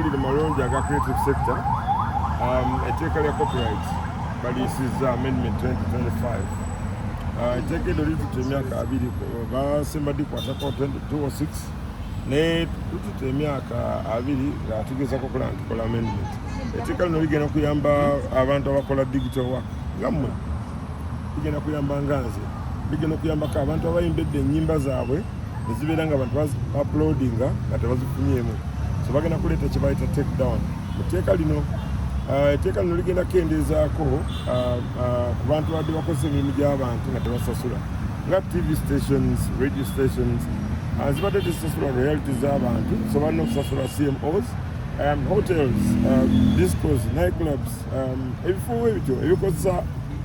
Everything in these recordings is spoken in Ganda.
Mu malungi aga creative sector, um, etteeka lya copyright baliyisizza amendment 2025 uh, etteeka eryo litutte emyaka abiri basemba dikwatako 2026 naye tututte emyaka abiri nga tugezako kola ntukola amendment etteeka lino ligenda kuyamba abantu abakola digital work nga mmwe ligenda kuyamba nga nze ligenda okuyambako abantu abayimbedde ennyimba zaabwe nezibeera nga abantu uploadinga nga tebazifunyeemu so bagenda kuleeta kyebayita take down mu tteeka lino uh, etteeka lino ligenda kukendeezaako uh, uh, ku bantu badde bakozesa emirimu gy'abantu nga tebasasula nga tv stations radio stations zibadde tezisasula royalty z'abantu so balina okusasula cmos um, hotels um, discos nightclubs um, ebifo ebityo ebikozesa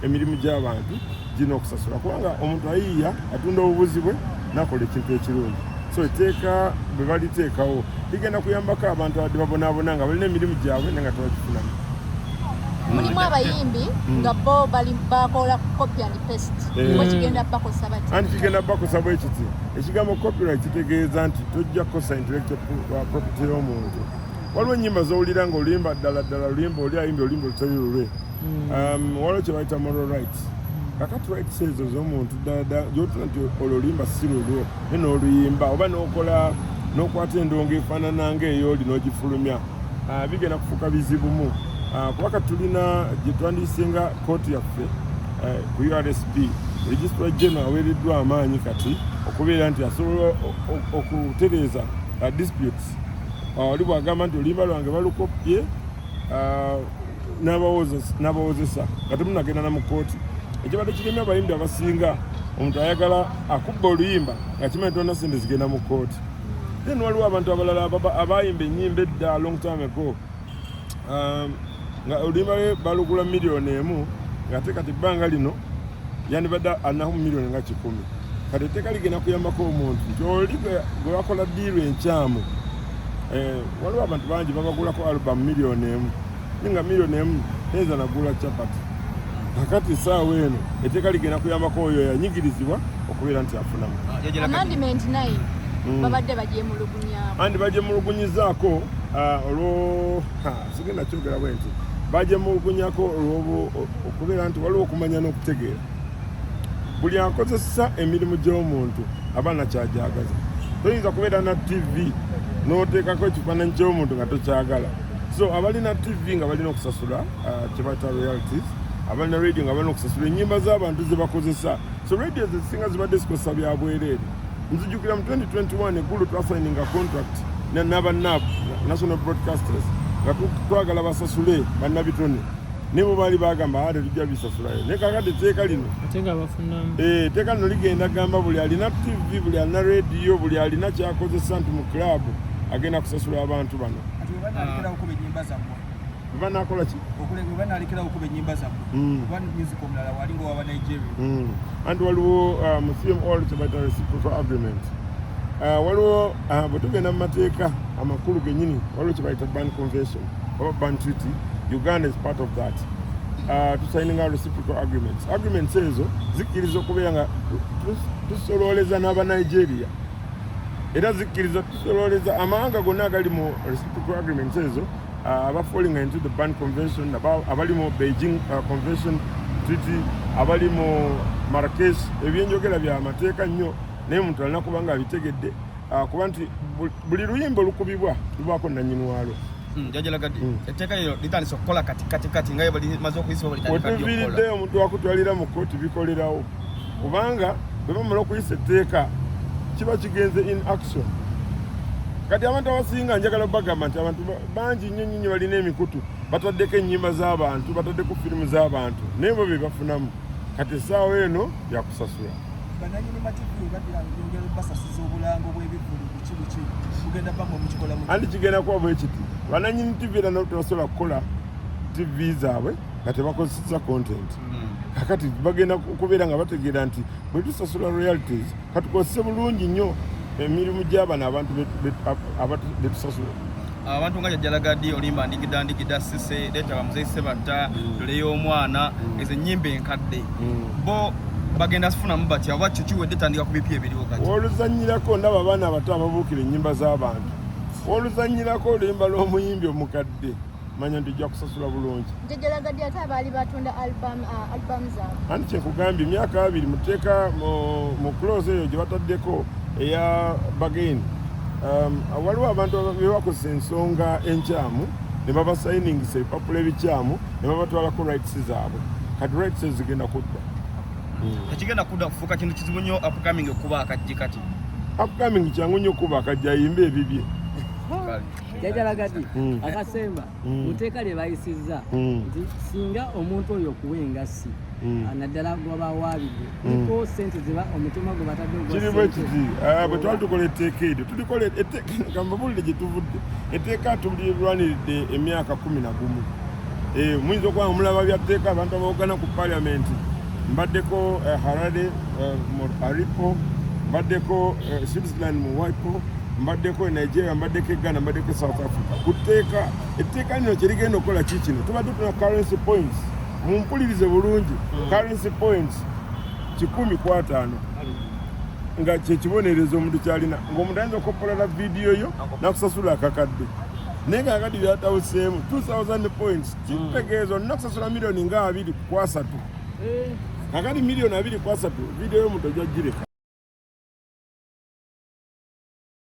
emirimu gy'abantu gino okusasula kubanga omuntu ayiiya atunda obubuzi bwe nakola ekintu ekirungi so etteeka bwe baliteekawo ligenda kuyambako abantu abadde babonaabona nga balina emirimu gyabwe naye nga tebagifunamu mulimu abayimbi hmm. nga bo bakola copy and paste eh. kigenda bakosa bati anti kigenda bakosa bwe kiti ekigambo copyright kitegeeza nti tojja kukosa intellectual uh, property y'omuntu waliwo ennyimba z'owulira nga olimba ddala ddala lulimba oli ayimba olimba olutali lulwe Um, waliwo kye bayita moral rights kakati rights ezo z'omuntu ddala gyotula nti olulimba si lulwo ne n'oluyimba oba n'okola n'okwata endongo efaanana nga eyooli n'ogifulumya ah, bigenda kufuuka bizibumu ah, kuba kati tulina gye twandiyisenga kooti yaffe eh, ku ursb registra geno aweereddwa amaanyi kati okubeera nti asobola okutereeza ah, disputes wali bwagamba nti oluyimba lwange balukoppye n'abawozesa nga temunagenda na mu kkooti ekibadde kiremye abayimbi abasinga omuntu ayagala akubba oluyimba nga kimanyi tolina sente zigenda mu kkooti then waliwo abantu abalala abayimba enyimba edda long time ago um, nga oluyimba lwe balugula miliyoni emu ngate kati ebbanga lino yandibadde alinaho mu miliyoni nga kikumi kati etteeka ligenda kuyambako omuntu nti oli gwe wakola diiru enkyamu eh, waliwo abantu bangi babagulako alubamu miliyoni emu naye nga miliyoni emu teyinza nagula capati kakati esaawa eno etteeka ligenda kuyambako oyo yanyigirizibwa okubeera nti afunamu ah, hmm. andi bagyemulugunyizaako ah, olwo sigenda kyogera bwe nti bajemulugunyako olwobu okubeera nti waliwo okumanya n'okutegeera buli akozesa emirimu gy'omuntu aba nakyajagaza toyinza kubeera na tv n'oteekako ekifaananyi ky'omuntu nga tokyagala so abalina tv nga balina okusasula uh, kyebayita realities abalina radio nga balina okusasula ennyimba z'abantu ze bakozesa so radio zezisinga zibadde zikozesa bya bwereere nzijukira mu 2021 eggulo twasayininga contract nabanab national broadcasters nga twagala basasule bannabitone nibo baali bagamba ate ah, tujja bisasulayo naye kakati etteeka lino etteeka eh, lino ligenda gamba buli alina tv buli alina rediyo buli alina kyakozesa nti mu club agenda kusasula abantu bano ah. Bwe banaakola ki? Okule bwe banaalekerawo okuba ennyimba zammwe mm. oba music omulala wali nga waba Nigeria. Mm. Anti waliwo uh, mu CMR kye bayita reciprocal agreement. Uh, waliwo uh, bwe tugenda mu mateeka amakulu gennyini waliwo kye bayita ban convention oba ban treaty. Uganda is part of that. Uh, tusayininga reciprocal agreements. Agreements ezo zikkiriza okubeera nga tusolooleza n'aba Nigeria era zikkiriza tusolooleza amawanga gonna agali mu reciprocal agreements ezo uh, aba falling into the ban convention abali mu beijing uh, convention treaty abali mu marrakesh ebyenjogera bya mateeka nnyo naye muntu alina kuba nga abitegedde uh, kuba nti buli luyimba olukubibwa lubwako nanyini walo hmm, jajalagadde hmm. etteeka lyo litandise okukola kati kati kati nga balimaze okuyisibwa balitandika omuntu wakutwalira mu kooti bikolerawo kubanga bwe bamala okuyisa etteeka kiba kigenze in action kati abantu abasinga njagala bagamba nti abantu bangi nnyo nnyo nyo balina emikutu bataddeko ennyimba z'abantu bataddeko firimu z'abantu naye bo be bafunamu kati essaawa eno yakusasula andi kigenda kuba bwekiti bananyini tivi era notebasobola kukola tivi zaabwe nga tebakozesezza content kakati bagenda okubeera nga bategeera nti bwe tusasula royalties katukozese bulungi nnyo emirimu gy'abano abantu betusasula abantu nga jajjalagadi olimba ndigida ndigida sise leeta bamuzeyi sebatta dole mm. y'omwana mm. ezo ennyimba enkadde mm. bo bagenda sifunamu batya oba kyo kiwedde tandika ku bipya ebiriwo kati oluzannyirako ndaba abaana abato ababuukira ennyimba z'abantu oluzannyirako oluyimba lw'omuyimbi omukadde manya nti ojja kusasula bulungi njejalagadde ate abaali batunda album uh, album zaabwe anti kyekugambye emyaka abiri muteeka mu close eyo gye bataddeko eya bagain um, waliwo abantu bebakozesa ensonga enkyamu ne babasayiningisa ebipapula ebikyamu ne babatwalako rights zaabwe kati rights ezo zigenda kudda hmm. tekigenda kudda kufuuka kintu kizibu nnyo upcoming okuba akajje kati upcoming kyangu nnyo okuba akajje ayimba ebibye jajalagadi hmm. akasemba hmm. mu tteeka lye bayisizza hmm. nti singa omuntu oyo okuwa engassi ah, naddala gwabawaabidde iko sente ziba omutima gwe batadde kirimu ekiti ah, bwe twali tukola etteeka eryo tulikola gambabulire gye tuvudde etteeka tulirwaniridde emyaka kumi na gumu eh, muyinza okuba omulaba bya tteeka abantu abawogana ku paliamenti mbaddeko eh, harare eh, mu aripo mbaddeko switzerland mu wipo mbaddeko e nigeria mbaddeko e ghana mbaddeko e south africa ku tteeka etteeka lino kye ligenda okukola ki kino tuba tufuna currency points mumpulirize bulungi hmm. currency points kikumi ku ataano nga kyekibonerezo omuntu kyalina ngaomuntu ayinza okopolola vidiyo yo nakusasula akakadde naye nga akadde byatawuseemu 2000 points hmm. kitegeeza olina kusasula miliyoni nga abiri kwasatu eh. akadi miliyoni abiri kwasatu vidiyo yomuntu ojajireka